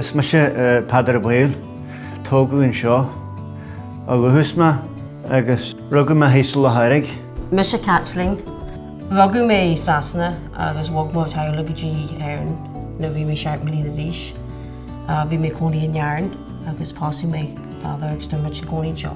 Is mise Peadar Ó Baoill. Tógadh anseo ó dhúchas mé agus rugadh mé thíos i Loch-Eirigh. Mise Caitlín. Rugadh mé i Sasana agus bhog mo theaghlaigh go dtí Éire nuair a bhí mé seacht mbliana d'aois. Bhí mé ag cónaí in Éirinn agus pósadh mé. agus tá muid ag cónaí anseo.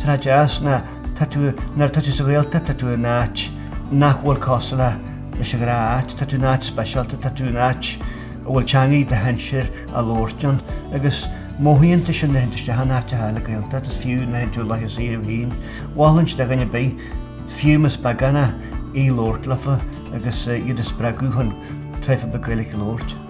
Tá deas ná tá tú, nuair atá tú sa Ghaeltacht tá tú in áit nach bhfuil cosúil leis an ghnáth áit, tá tú in áit speisialta, tá tú in áit a bhfuil teangaidh do shinsir á labhairt ann agus mothaíonn tú sin nuair a théann tú isteach in áit a labhartar Gaeilge agus fiú nuair a théann tú i láthair saoire bhliain, mholfainn do dhuine ar bith, fiú más beagán é, í labhairt leofa agus iad a spreagadh chun tréan Gaeilge a labhairt.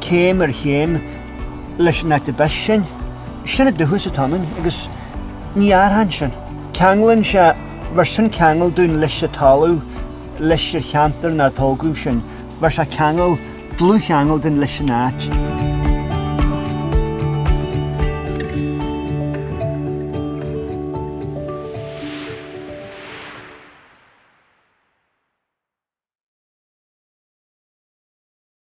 céim ar chéim, leis an áit arb as sinn. Sin an dúchas atá ionainn, agus ní athrann sin. Ceanglann sé, bheir sin ceangal dúinn leis an talamh, leis an cheantar 'nar tógadh sinn. Bheir sé ceangal, dlúth-cheangal dúinn leis an áit.